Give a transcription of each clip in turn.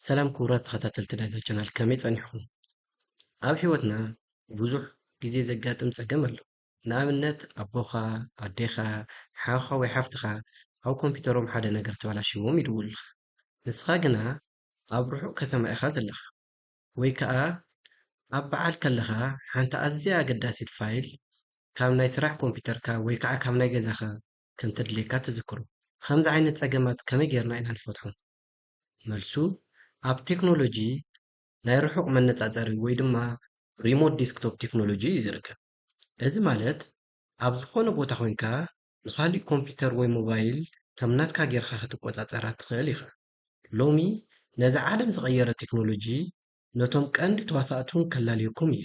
ሰላም ክቡራት ተኸታተልቲ ናይዛ ቻናል ከመይ ጸኒሕኹም? ኣብ ሕይወትና ብዙሕ ግዜ ዘጋጥም ጸገም ኣሎ። ንኣብነት ኣቦኻ፣ ኣዴኻ፣ ሓውኻ ወይ ሓፍትኻ ኣብ ኮምፒተሮም ሓደ ነገር ተበላሽዎም ይድውሉልካ። ንስኻ ግና ኣብ ርሑቕ ከተማ ኢኻ ዘለኻ ወይ ከኣ ኣብ በዓል ከለኻ ሓንቲ ኣዝያ ኣገዳሲት ፋይል ካብ ናይ ስራሕ ኮምፒተርካ ወይ ከኣ ካብ ናይ ገዛኻ ከምተድልየካ ትዝክሩ። ኸምዚ ዓይነት ፀገማት ከመይ ገይርና ኢና ንፈትሖም? መልሱ ኣብ ቴክኖሎጂ ናይ ርሑቕ መነፃፀሪ ወይ ድማ ሪሞት ዴስክቶፕ ቴክኖሎጂ እዩ ዝርከብ። እዚ ማለት ኣብ ዝኾነ ቦታ ኮይንካ ንኻሊእ ኮምፒተር ወይ ሞባይል ከም ናትካ ገይርኻ ክትቆፃፀራ ትኽእል ኢኻ። ሎሚ ነዛ ዓለም ዝቐየረ ቴክኖሎጂ ነቶም ቀንዲ ተዋሳእቱ ከላልየኩም እየ።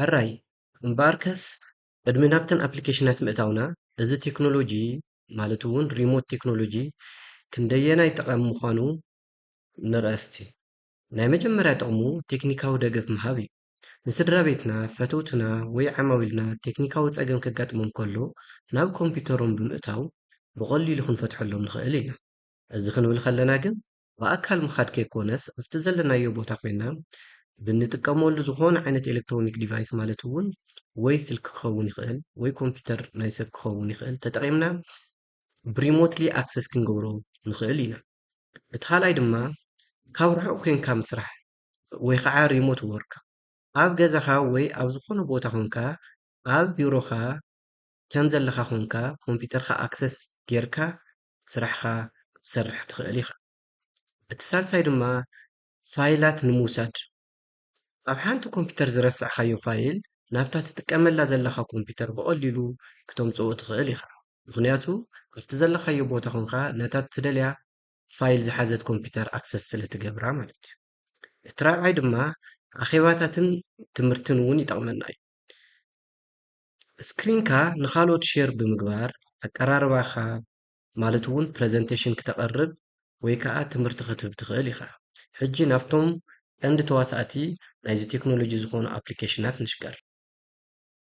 ሕራይ እምበኣርከስ ቅድሚ ናብተን ኣፕሊኬሽናት ምእታውና እዚ ቴክኖሎጂ ማለት እውን ሪሞት ቴክኖሎጂ ክንደየናይ ጠቓሚ ምዃኑ ንርኣስቲ ናይ መጀመርያ ጥቕሙ ቴክኒካዊ ደገፍ ምሃብ እዩ ንስድራ ቤትና፣ ፈተውትና ወይ ዓማዊልና ቴክኒካዊ ጸገም ከጋጥሞም ከሎ ናብ ኮምፒዩተሮም ብምእታው ብቐሊሉ ክንፈትሐሎም ንኽእል ኢና። እዚ ክንብል ከለና ግን ብኣካል ምኻድ ከይኮነስ ኣብቲ ዘለናዮ ቦታ ኮይና ብንጥቀመሉ ዝኾነ ዓይነት ኤለክትሮኒክ ዲቫይስ ማለት እውን ወይ ስልኪ ክኸውን ይኽእል ወይ ኮምፒዩተር ናይ ሰብ ክኸውን ይኽእል ተጠቒምና ብሪሞትሊ ኣክሰስ ክንገብሮ ንኽእል ኢና። እቲ ካልኣይ ድማ ካብ ርሑቕ ኮይንካ ምስራሕ ወይ ኸዓ ሪሞት ዎርክ ኣብ ገዛኻ ወይ ኣብ ዝኾነ ቦታ ኾንካ ኣብ ቢሮኻ ከም ዘለኻ ኾንካ ኮምፒተርካ ኣክሰስ ጌርካ ስራሕኻ ክትሰርሕ ትኽእል ኢኻ። እቲ ሳልሳይ ድማ ፋይላት ንምውሳድ ኣብ ሓንቲ ኮምፒተር ዝረሳዕኻዮ ፋይል ናብታ ትጥቀመላ ዘለኻ ኮምፒተር ብቐሊሉ ክተምፅኦ ትኽእል ኢኻ። ምኽንያቱ ኣብቲ ዘለኻዮ ቦታ ኾንካ ነታ ትደልያ ፋይል ዝሓዘት ኮምፒተር ኣክሰስ ስለ ትገብራ ማለት እዩ። እቲ ራብዓይ ድማ ኣኼባታትን ትምህርትን እውን ይጠቕመና እዩ። ስክሪንካ ንካልኦት ሼር ብምግባር ኣቀራርባኻ ማለት እውን ፕረዘንቴሽን ክተቐርብ ወይ ከዓ ትምህርቲ ክትህብ ትኽእል ኢኻ። ሕጂ ናብቶም ቀንዲ ተዋሳእቲ ናይዚ ቴክኖሎጂ ዝኾኑ ኣፕሊኬሽናት ንሽገር።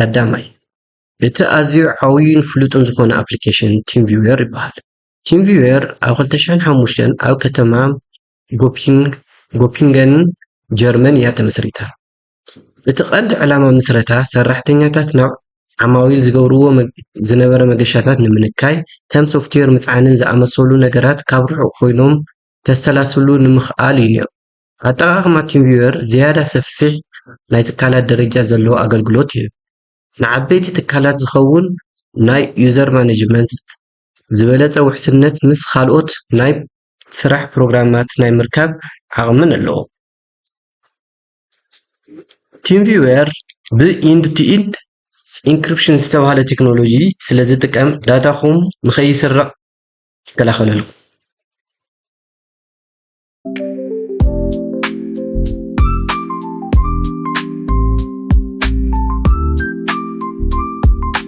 ቀዳማይ እቲ ኣዝዩ ዓብዩን ፍሉጥን ዝኾነ ኣፕሊኬሽን ቲም ቪወር ይበሃል። ቲም ቪወር ኣብ 2005 ኣብ ከተማ ጎፒንገን ጀርመን እያ ተመስሪታ። እቲ ቀንዲ ዕላማ ምስረታ ሰራሕተኛታት ናብ ዓማዊል ዝገብርዎ ዝነበረ መገሻታት ንምንካይ ከም ሶፍትዌር ምፅዓንን ዝኣመሰሉ ነገራት ካብ ርሑቕ ኮይኖም ከሰላስሉ ንምኽኣል እዩ ነይሩ። ኣጠቓቕማ ቲምቪወር ዝያዳ ሰፊሕ ናይ ትካላት ደረጃ ዘለዎ ኣገልግሎት ይህብ። ንዓበይቲ ትካላት ዝኸውን ናይ ዩዘር ማነጅመንት፣ ዝበለፀ ውሕስነት ምስ ካልኦት ናይ ስራሕ ፕሮግራማት ናይ ምርካብ ዓቕምን ኣለዎ። ቲምቪወር ብኢንድ ቱ ኢንድ ኢንክሪፕሽን ዝተባህለ ቴክኖሎጂ ስለ ዝጥቀም ዳታኹም ንኸይስረቕ ይከላኸለልኩም።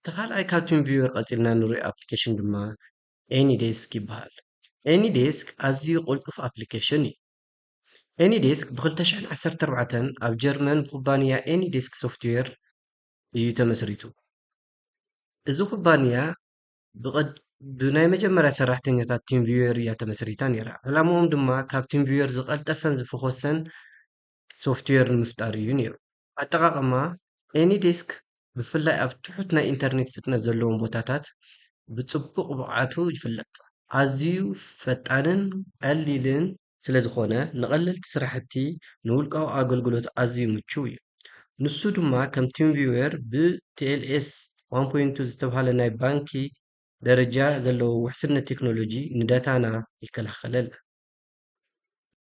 እቲ ካልኣይ ካብ ቲምቪወር ቀጺልና ንርእዮ ኣፕሊኬሽን ድማ ኤኒዴስክ ይበሃል። ኤኒዴስክ ኣዝዩ ቅልጡፍ ኣፕሊኬሽን እዩ። ኤኒዴስክ ብ ክልተ ሽሕን ዓሰርተ ኣርባዕተን ኣብ ጀርመን ብኩባንያ ኤኒዴስክ ሶፍትዌር እዩ ተመስሪቱ። እዚ ኩባንያ ብናይ መጀመርያ ሰራሕተኛታት ቲምቪወር እያ ተመስሪታ ነይራ። ዕላምኦም ድማ ካብ ቲምቪወር ዝቐልጠፈን ዝፈኾሰን ሶፍትዌር ንምፍጣር እዩ ነይሩ። ኣጠቓቕማ AnyDesk ብፍላይ ኣብ ትሑት ናይ ኢንተርኔት ፍጥነት ዘለዎም ቦታታት ብጽቡቕ ብቕዓቱ ይፍለጥ። ኣዝዩ ፈጣንን ቀሊልን። ስለ ዝኾነ ንቐለልቲ ስራሕቲ፣ ንውልቃዊ ኣገልግሎት ኣዝዩ ምቹው እዩ። ንሱ ድማ ከም TeamViewer ብ TLS ዋን ፖይንት ቱ ዝተብሃለ ናይ ባንኪ ደረጃ ዘለዎ ውሕስነት ቴክኖሎጂ ንዳታና ይከላኸለልና።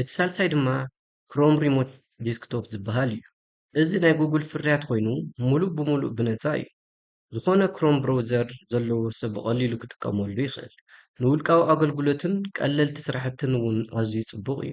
እቲ ሳልሳይ ድማ ክሮም ሪሞት ዲስክቶፕ ዝበሃል እዩ። እዚ ናይ ጉግል ፍርያት ኮይኑ ሙሉእ ብሙሉእ ብነፃ እዩ። ዝኾነ ክሮም ብሮውዘር ዘለዎ ሰብ ብቐሊሉ ክጥቀመሉ ይኽእል። ንውልቃዊ ኣገልግሎትን ቀለልቲ ስራሕትን እውን ኣዝዩ ፅቡቕ እዩ።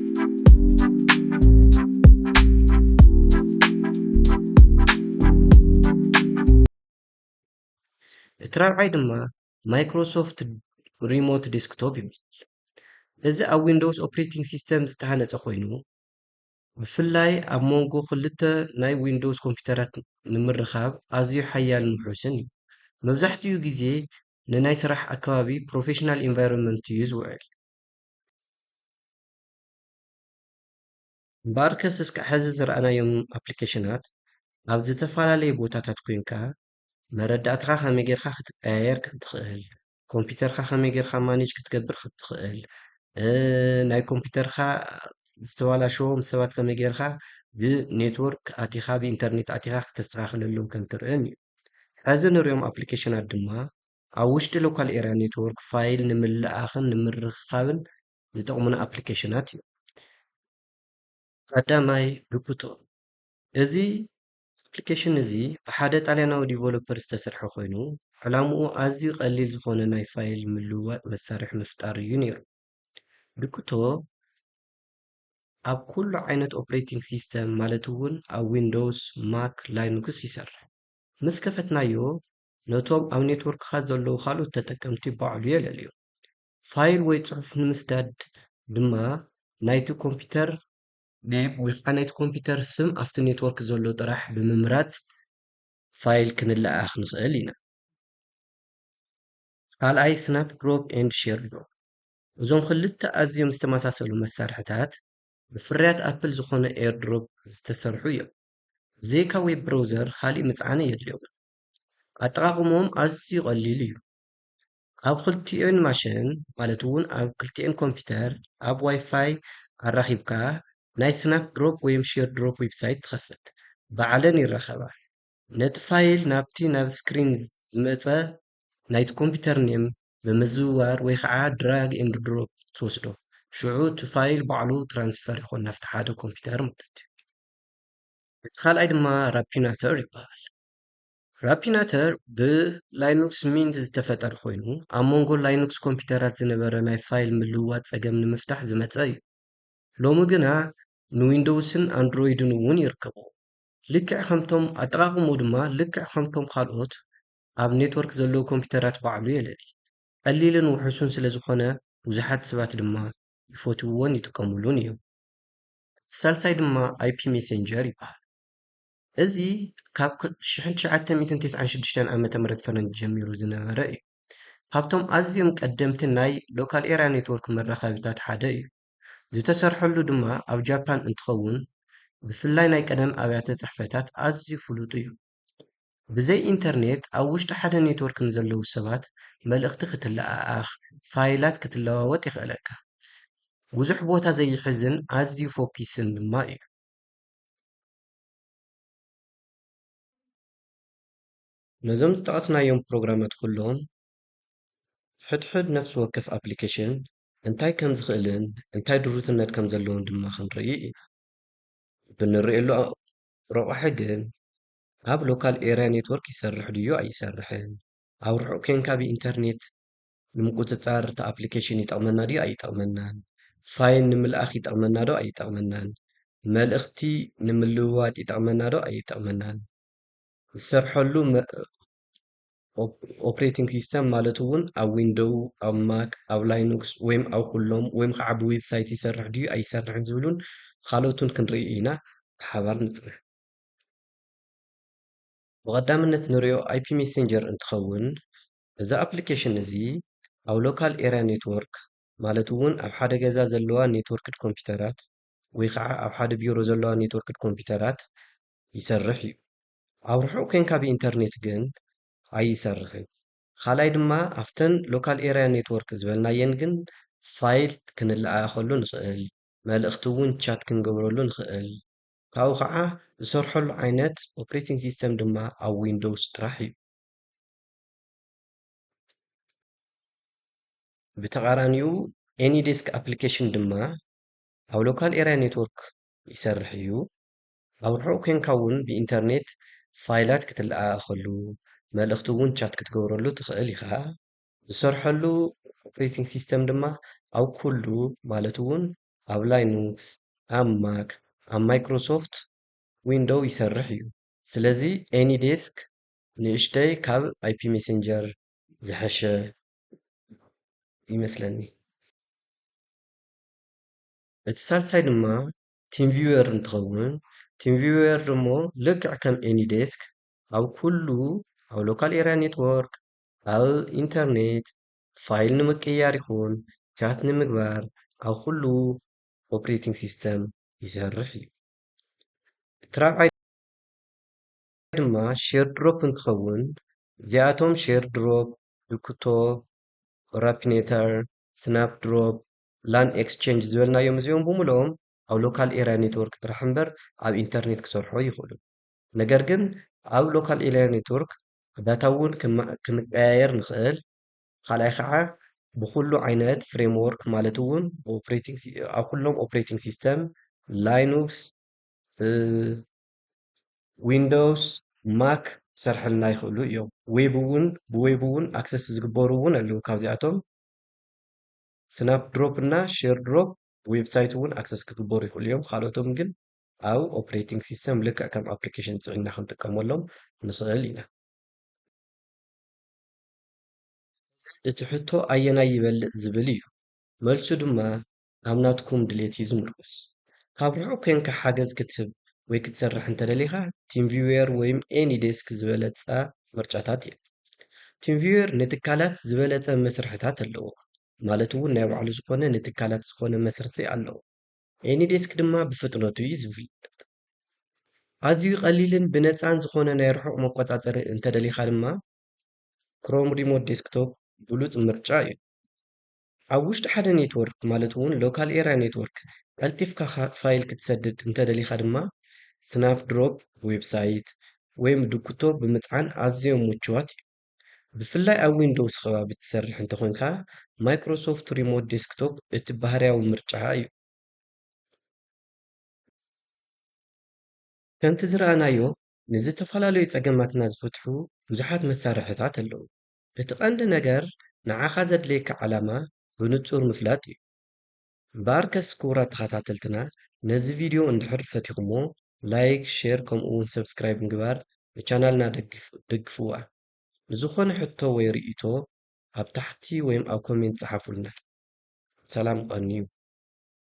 እቲ ራብዓይ ድማ ማይክሮሶፍት ሪሞት ዴስክቶፕ ይበሃል እዚ ኣብ ዊንዶውስ ኦፕሬቲንግ ሲስተም ዝተሃነፀ ኮይኑ ብፍላይ ኣብ መንጎ ክልተ ናይ ዊንዶውስ ኮምፒውተራት ንምርኻብ ኣዝዩ ሓያልን ውሑስን እዩ መብዛሕትኡ ግዜ ንናይ ስራሕ ኣከባቢ ፕሮፌሽናል ኢንቫይሮንመንት እዩ ዝውዕል እምበኣርከስ እስከ ሕዚ ዝረኣናዮም ኣፕሊኬሽናት ኣብ ዝተፈላለየ ቦታታት ኮይንካ መረዳእታኻ ከመይ ጌርካ ክትቀያየር ከም ትኽእል፣ ኮምፒተርካ ከመይ ጌርካ ማኔጅ ክትገብር ከም ትኽእል፣ ናይ ኮምፒተርካ ዝተበላሸዎም ሰባት ከመይ ጌርካ ብኔትወርክ ኣቲኻ ብኢንተርኔት ኣቲኻ ክተስተኻኽለሎም ከም ትርእን እዩ። ሕዚ ንሪኦም ኣፕሊኬሽናት ድማ ኣብ ውሽጢ ሎካል ኤርያ ኔትዎርክ ፋይል ንምልእኣኽን ንምርኽኻብን ዝጠቕሙና ኣፕሊኬሽናት እዮም። ቀዳማይ ዱፕቶ እዚ ኣፕሊኬሽን እዚ ብሓደ ጣልያናዊ ዲቨሎፐር ዝተሰርሐ ኮይኑ ዕላምኡ ኣዝዩ ቀሊል ዝኾነ ናይ ፋይል ምልውዋጥ መሳርሒ ምፍጣር እዩ ነይሩ። ዱፕቶ ኣብ ኩሉ ዓይነት ኦፕሬቲንግ ሲስተም ማለት እውን ኣብ ዊንዶውስ፣ ማክ፣ ላይኑክስ ይሰርሕ። ምስ ከፈትናዮ ነቶም ኣብ ኔትወርክኻ ዘለዉ ካልኦት ተጠቀምቲ ባዕሉ የለልዮ። ፋይል ወይ ጽሑፍ ንምስዳድ ድማ ናይቲ ኮምፒተር ኔም ወይ ኸዓ ናይቲ ኮምፒተር ስም ኣብቲ ኔትወርክ ዘሎ ጥራሕ ብምምራጽ ፋይል ክንለኣኣኽ ንኽእል ኢና። ካልኣይ ስናፕ ድሮፕ ኤንድ ሼር ድሮፕ እዞም ክልተ ኣዝዮም ዝተመሳሰሉ መሳርሕታት ብፍርያት ኣፕል ዝኾነ ኤርድሮፕ ዝተሰርሑ እዮም። ብዘይካ ዌብ ብረውዘር ኻሊእ ምጽዓን የድልዮምን። ኣጠቓቕምኦም ኣዝዩ ቀሊል እዩ። ኣብ ክልቲኤን ማሽን ማለት እውን ኣብ ክልቲኤን ኮምፒተር ኣብ ዋይፋይ ኣራኺብካ ናይ ስናፕ ድሮፕ ወይም ሼር ድሮፕ ዌብሳይት ትኸፍት። ባዕለን ይራኸባ። ነቲ ፋይል ናብቲ ናብ ስክሪን ዝመጸ ናይቲ ኮምፒተር ኔም ብምዝውዋር ወይ ከዓ ድራግ ኤንድ ድሮፕ ትወስዶ። ሽዑ እቲ ፋይል ባዕሉ ትራንስፈር ይኾን ናብቲ ሓደ ኮምፒተር ማለት እዩ። እቲ ካልኣይ ድማ ራፒናተር ይበሃል። ራፒናተር ብላይኑክስ ሚንት ዝተፈጠረ ኮይኑ፣ ኣብ መንጎ ላይኑክስ ኮምፒዩተራት ዝነበረ ናይ ፋይል ምልውዋጥ ጸገም ንምፍታሕ ዝመጸ እዩ። ሎሚ ግና ንዊንዶውስን ኣንድሮይድን እውን ይርከብዎ። ልክዕ ከምቶም ኣጠቓቕምኡ ድማ ልክዕ ከምቶም ካልኦት ኣብ ኔትወርክ ዘለዉ ኮምፒዩተራት ባዕሉ የለሊ። ቀሊልን ውሑሱን ስለዝኾነ ብዙሓት ሰባት ድማ ይፈትውዎን ይጥቀምሉን እዮም። እቲ ሳልሳይ ድማ ኣይፒ ሜሴንጀር ይበሃል። እዚ ካብ ሽሕን ትሽዓተ ሚእትን ቴስዓን ሽዱሽተን ዓመተ ምህረት ፈረንጅ ጀሚሩ ዝነበረ እዩ። ካብቶም ኣዝዮም ቀደምቲ ናይ ሎካል ኤርያ ኔትዎርክ መራኸቢታት ሓደ እዩ። ዝተሰርሐሉ ድማ ኣብ ጃፓን እንትኸውን ብፍላይ ናይ ቀደም ኣብያተ ጽሕፈታት ኣዝዩ ፍሉጥ እዩ። ብዘይ ኢንተርኔት ኣብ ውሽጢ ሓደ ኔትዎርክ ንዘለዉ ሰባት መልእኽቲ ክትለኣኣኽ፣ ፋይላት ክትለዋወጥ የኽእለካ። ብዙሕ ቦታ ዘይሕዝን ኣዝዩ ፎኪስን ድማ እዩ። ነዞም ዝጠቐስናዮም ፕሮግራማት ኩሎም ሕድሕድ ነፍሲ ወከፍ ኣፕሊኬሽን እንታይ ከም ዝኽእልን እንታይ ድሩትነት ከም ዘለዎን ድማ ክንርኢ ኢና። ብንርእየሉ ረቋሒ ግን ኣብ ሎካል ኤርያ ኔትወርክ ይሰርሕ ድዩ ኣይሰርሕን፣ ኣብ ርሑቕ ኴንካ ብኢንተርኔት ንምቁጽጻር እቲ ኣፕሊኬሽን ይጠቕመና ድዩ ኣይጠቕመናን፣ ፋይል ንምልኣኽ ይጠቕመና ዶ ኣይጠቕመናን፣ መልእኽቲ ንምልውዋጥ ይጠቕመና ዶ ኣይጠቕመናን፣ ዝሰርሐሉ ኦፕሬቲንግ ሲስተም ማለት'ውን ኣብ ዊንዶው፣ ኣብ ማክ፣ ኣብ ላይኖክስ ወይም ኣብ ኩሎም ወይም ከዓ ብዌብሳይት ይሰርሕ ድዩ ኣይሰርሕን ዝብሉን ኻልኦትን ክንርኢ ኢና ብሓባር ንጽናሕ። ብቐዳምነት ንሪኦ ኣይፒ ሜሴንጀር እንትኸውን እዚ ኣፕሊኬሽን እዚ ኣብ ሎካል ኤርያ ኔትዎርክ ማለት እውን ኣብ ሓደ ገዛ ዘለዋ ኔትዎርክድ ኮምፒተራት ወይ ከዓ ኣብ ሓደ ቢሮ ዘለዋ ኔትዎርክድ ኮምፒተራት ይሰርሕ እዩ። ኣብ ርሑቕ ኮንካ ብኢንተርኔት ግን ኣይሰርሕን። ካልኣይ ድማ ኣብተን ሎካል ኤርያ ኔትዎርክ ዝበልናየን ግን ፋይል ክንለኣኣኸሉ ንኽእል፣ መልእኽቲ እውን ቻት ክንገብረሉ ንኽእል። ካብኡ ከዓ ዝሰርሐሉ ዓይነት ኦፕሬቲንግ ሲስተም ድማ ኣብ ዊንዶውስ ጥራሕ እዩ። ብተቓራኒኡ ኤኒዴስክ ኣፕሊኬሽን ድማ ኣብ ሎካል ኤርያ ኔትወርክ ይሰርሕ እዩ። ኣብ ርሑቕ ኮንካ እውን ብኢንተርኔት ፋይላት ክትለኣኣኸሉ፣ መልእኽቲ እውን ቻት ክትገብረሉ ትኽእል ኢኻ። ዝሰርሐሉ ኦፕሬቲንግ ሲስተም ድማ ኣብ ኩሉ ማለት እውን ኣብ ላይኑክስ፣ ኣብ ማክ፣ ኣብ ማይክሮሶፍት ዊንዶው ይሰርሕ እዩ። ስለዚ ኤኒዴስክ ንእሽተይ ካብ ኣይፒ ሜሴንጀር ዝሐሸ ይመስለኒ። እቲ ሳልሳይ ድማ ቲምቪወር እንትኸውን ቲምቪወር ደሞ ልክዕ ከም ኤኒዴስክ ኣብ ኩሉ ኣብ ሎካል ኤርያ ኔትዎርክ ኣብ ኢንተርኔት ፋይል ንምቅያር ይኹን ቻት ንምግባር ኣብ ኩሉ ኦፕሬቲንግ ሲስተም ይሰርሕ እዩ። እቲ ራብዓይ ድማ ሼር ድሮፕ እንትኸውን እዚኣቶም ሼር ድሮፕ፣ ዩክቶ፣ ኦራፒኔተር፣ ስናፕ ድሮፕ፣ ላን ኤክስቼንጅ ዝበልናዮም እዚኦም ብምልኦም ኣብ ሎካል ኤርያ ኔትወርክ ጥራሕ እምበር ኣብ ኢንተርኔት ክሰርሑ ኣይኽእሉን። ነገር ግን ኣብ ሎካል ኤርያ ኔትወርክ ዳታ እውን ክንቀያየር ንኽእል። ካልኣይ ከዓ ብኹሉ ዓይነት ፍሬምዎርክ ማለት እውን ኣብ ኩሎም ኦፕሬቲንግ ሲስተም ላይኑክስ፣ ዊንዶውስ ማክ ክሰርሕልና ይኽእሉ እዮም ዌብ እውን ብዌብ እውን ኣክሰስ ዝግበሩ እውን ኣለዉ ካብዚኣቶም ስናፕ ድሮፕ እና ሼር ድሮፕ ብዌብሳይት እውን ኣክሰስ ክግበሩ ይኽእሉ እዮም ካልኦቶም ግን ኣብ ኦፕሬቲንግ ሲስተም ልክዕ ከም ኣፕሊኬሽን ፅዒና ክንጥቀመሎም ንኽእል ኢና እቲ ሕቶ ኣየናይ ይበልፅ ዝብል እዩ መልሱ ድማ ኣብ ናትኩም ድሌት እዩ ዝምርኮስ። ካብ ርሑቕ ኴንካ ሓገዝ ክትህብ ወይ ክትሰርሕ እንተደሊኻ ቲምቪውየር ወይም ኤኒ ዴስክ ዝበለጸ ምርጫታት እየን። ቲምቪውየር ንትካላት ዝበለጸ መስርሕታት ኣለዎ፣ ማለት እውን ናይ ባዕሉ ዝኾነ ንትካላት ዝኾነ መስርሒ ኣለዎ። ኤኒ ዴስክ ድማ ብፍጥነቱ እዩ ዝፍለጥ። ኣዝዩ ቀሊልን ብነጻን ዝኾነ ናይ ርሑቕ መቆጻጸሪ እንተደሊኻ ድማ ክሮም ሪሞት ዴስክቶፕ ብሉጽ ምርጫ እዩ። ኣብ ውሽጢ ሓደ ኔትወርክ ማለት'ውን ሎካል ኤርያ ኔትወርክ ቀልጢፍካ ፋይል ክትሰድድ እንተደሊኻ ድማ ስናፕድሮፕ ዌብሳይት ወይ ምድኩቶ ብምጽዓን ኣዝዮም ምቹዋት እዮም። ብፍላይ ኣብ ዊንዶውስ ከባቢ እትሰርሕ እንተኾይንካ ማይክሮሶፍት ሪሞት ዴስክቶፕ እቲ ባህርያዊ ምርጫ እዩ። ከምቲ ዝረኣናዮ ንዝተፈላለዩ ጸገማትና ዝፍትሑ ብዙሓት መሳርሕታት ኣለዉ። እቲ ቀንዲ ነገር ንዓኻ ዘድልየካ ዕላማ ብንጹር ምፍላጥ እዩ። እምበኣርከስ ክቡራት ተኸታተልትና ነዚ ቪድዮ እንድሕር ፈቲኹሞ ላይክ፣ ሼር ከምኡ ውን ሰብስክራይብ ምግባር ንቻናልና ደግፍዋ። ንዝኾነ ሕቶ ወይ ርእይቶ ኣብ ታሕቲ ወይም ኣብ ኮሜንት ጽሓፉልና። ሰላም ቐንዩ።